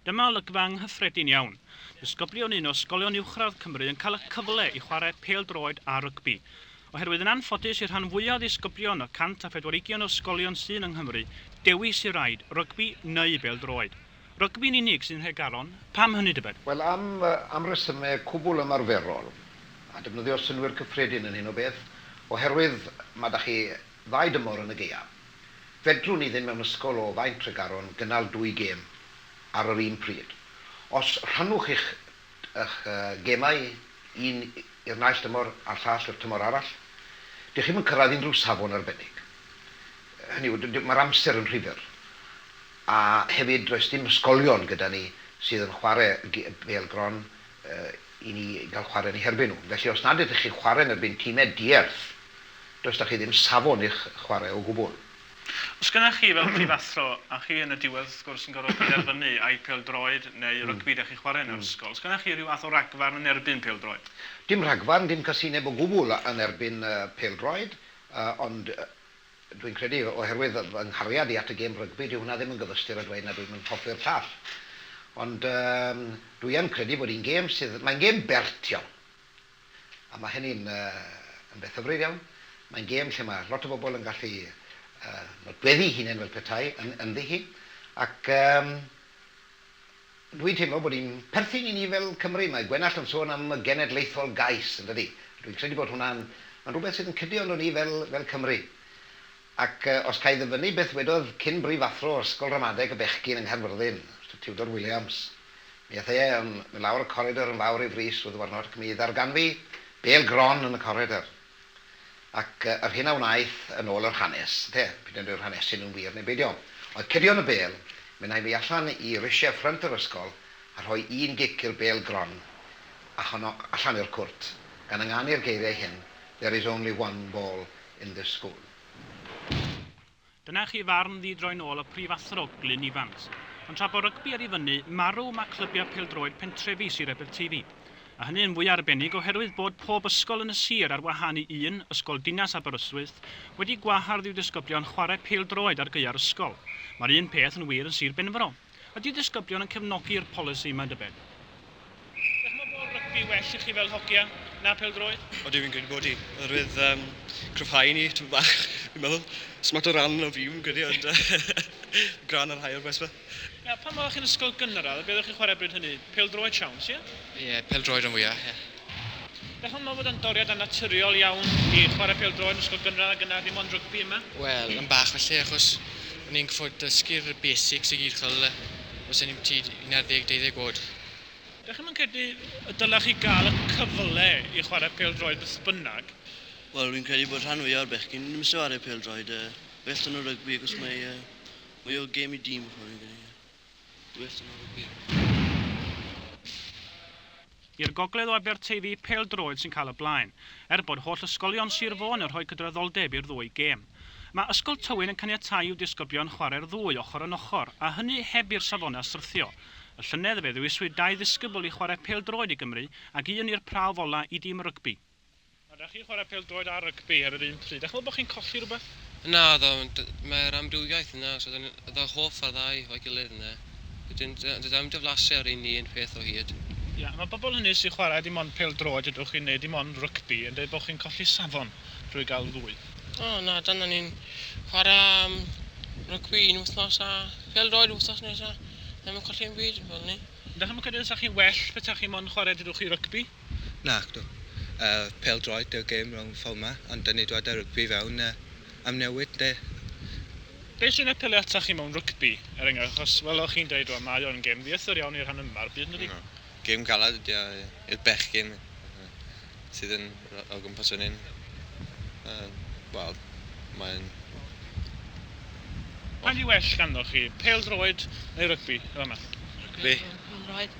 Dyma olygfa anghyffredin iawn. Disgyblion un o ysgolion uwchradd Cymru yn cael y cyfle i chwarae pêl-droed a rygbi. Oherwydd yn anffodus i'r rhan fwyaf o ddisgyblion y 104 ugian o ysgolion sy'n yng Nghymru, dewis i raid rygbi neu bêl-droed. Rygbi'n unig sy'n rhoi galon. Pam hynny tybed? Wel, am resymau cwbl ymarferol, a defnyddio synnwyr cyffredin yn hyn o beth, oherwydd, mae 'da chi Ddau dymor yn y gaeaf. Fedrwn ni ddim mewn ysgol o Faen Tregaron gynnal dwy gêm ar yr un pryd. Os rhannwch eich eich gemau, un i'r naill dymor a'r llall i'r tymor arall, dych chi'm yn cyrraedd unrhyw safon arbennig. Hynny yw, mae'r amser yn rhy fyr. A hefyd, does dim ysgolion gyda ni sydd yn chwarae bêl-gron. i ni gael chwarae yn eu herbyn nhw. Felly os nad ydych chi'n chwarae yn erbyn timau di-erth, does 'da chi ddim safon i'ch chwarae o gwbl. Os gennych chi fel prifathro, a chi yn y diwedd wrth gwrs yn gorfod penderfynu ai pêl-droed neu rygbi dach chi'n chwarae yn yr ysgol, os gennych chi rhyw fath o ragfarn yn erbyn pêl-droed? Dim rhagfarn, dim casineb o gwbl yn erbyn pêl-droed, ond Dwi'n credu, oherwydd fy nghariad i at y gêm rygbi, dyw hwnna ddim yn gyfystyr â dweud nad dwi'm yn hoffi'r llall. Ond yym dwi yn credu bod hi'n gêm sydd... mae'n gêm bert iawn. A mae hynny'n yy yn beth hyfryd iawn. Mae'n gêm lle mae lot o bobl yn gallu yy nodweddu 'u hunain fel petai yn ynddi hi. Ac yym Dwi'n teimlo bod hi'n perthyn i ni fel Cymry. Mae Gwenallt yn sôn am y genedlaethol gais, yn dydi? A dwi'n credu bod hwnna'n... mae'n rhywbeth sydd yn cydio ynddo ni fel, fel Cymry. Ac os ca i ddyfynnu beth wedodd cyn-brifathro Ysgol Ramadeg y Bechgyn yng Nghaerfyrddin, Mister Tudor Williams, mi ath e yn mynd lawr y coridor yn fawr ei frys o ddiwrnod ac mi ddarganfu bêl gron yn y coridor. Ac yr hyn a wnaeth, yn ôl yr hanes, ynte, p'un a yw'r hanes hyn yn wir neu beidio, oedd cydio yn y bêl, mynd â'i mi allan i risiau ffrynt yr ysgol a rhoi un gic i'r bêl gron, a honno allan i'r cwrt, gan ynganu'r geiriau hyn, There is only one ball in this school. Dyna chi farn ddi-droi'n ôl y Prif Athro, Glyn Evans. Ond tra bod rygbi ar ei fyny, marw, mae clybiau pêl-droed pentrefi Sir Aberteifi. A hynny yn fwy arbennig oherwydd bod pob ysgol yn y sir, ar wahân i un, Ysgol Dinas Aberystwyth, wedi gwahardd i'w disgyblion chwarae pêl-droed ar gaeau'r ysgol. Mae'r un peth yn wir yn Sir Benfro. Ydy disgyblion yn cefnogi'r polisi, mae'n debyn? Dych chi'n meddwl bod rygbi well i chi fel hogia na pêl-droed? O dwi fi'n credu bod hi, oherwydd um, cryfhau ni tipyn bach, fi'n meddwl. Smart o ran o fi, fi'n credu, ond gran ar rhai o'r bois fe. Na, pan oeddech chi'n ysgol gynradd, beth oeddech chi'n chwarae bryd hynny? Pêl-droed siawns, ie? Ie, pêl-droed rhan fwya, ie. Dach chi'n meddwl bod o'n doriad annaturiol iawn i chwarae pêl-droed yn ysgol gynradd ac yna dim ond rygbi yma? Wel, yn bach falle, achos o'n i'n gorfod dysgu'r basics i gyd, chi'n gweld, os o'n i'n byti 11, 12 oed. Dach chi'm yn credu y dylech chi gael y cyfle i chwarae pêl-droed beth bynnag? Wel, fi'n credu bod rhan fwya o'r bechgyn ddim isie chwarae pêl-droed, yy, well 'da nhw rygbi achos mae, yy, mwy o gêm i dîm, chimod, fi'n credu, ie. Well 'da nhw rygbi. I'r gogledd o Aberteifi, pêl-droed sy'n cael y blaen, er bod holl ysgolion Sir Fôn yn rhoi cydraddoldeb i'r ddwy gêm. Mae Ysgol Tywyn yn caniatáu i'w disgyblion chwarae'r ddwy ochr yn ochr, a hynny heb i'r safonau syrthio. Y llynedd, fe ddewiswyd dau ddisgybl i chwarae pêl-droed i Gymru ac un i'r prawf ola' i dîm rygbi. A dach chi'n chwarae pêl-droed a rygbi ar yr un pryd? Dach chi'n meddwl bod chi'n colli rhywbeth? Naddo, ond mae'r amrywiaeth yna, so dan ni fel hoff â'r ddau efo'i gilydd ynde? Wedyn d- does dim diflasiau ar un ni un peth o hyd. Ie, a mae pobl hynny sy'n chwarae dim ond pêl-droed ydych chi'n neu dim ond rygbi yn deud bod chi'n colli safon drwy gael y ddwy. O na, dan ni'n chwarae am rygbi un wythnos a pêl-droed yr wythnos nesaf, ddim yn colli unbyd fel 'ny. Dach chi'm yn credu fysa chi'n well petaech chi mond yn chwarae dydwch chi rygbi? Nacdw. Yy pêl-droed yw'r gêm rownd fforma, ond dan ni dwad â rygbi fewn yy am newid ynde? Be sy'n apelio atoch chi mewn rygbi, er enghraifft, achos fel o'ch chi'n deud rwan, mae o'n gêm ddiythr iawn i'r rhan yma o'r byd yndydi? Gêm galed ydi o i'r bechgyn sydd yn o gwmpas fan hyn. Yym wel mae'n Pa un sy well ganddoch chi, pêl-droed neu rygbi yn fama? Rygbi. Pêl-droed.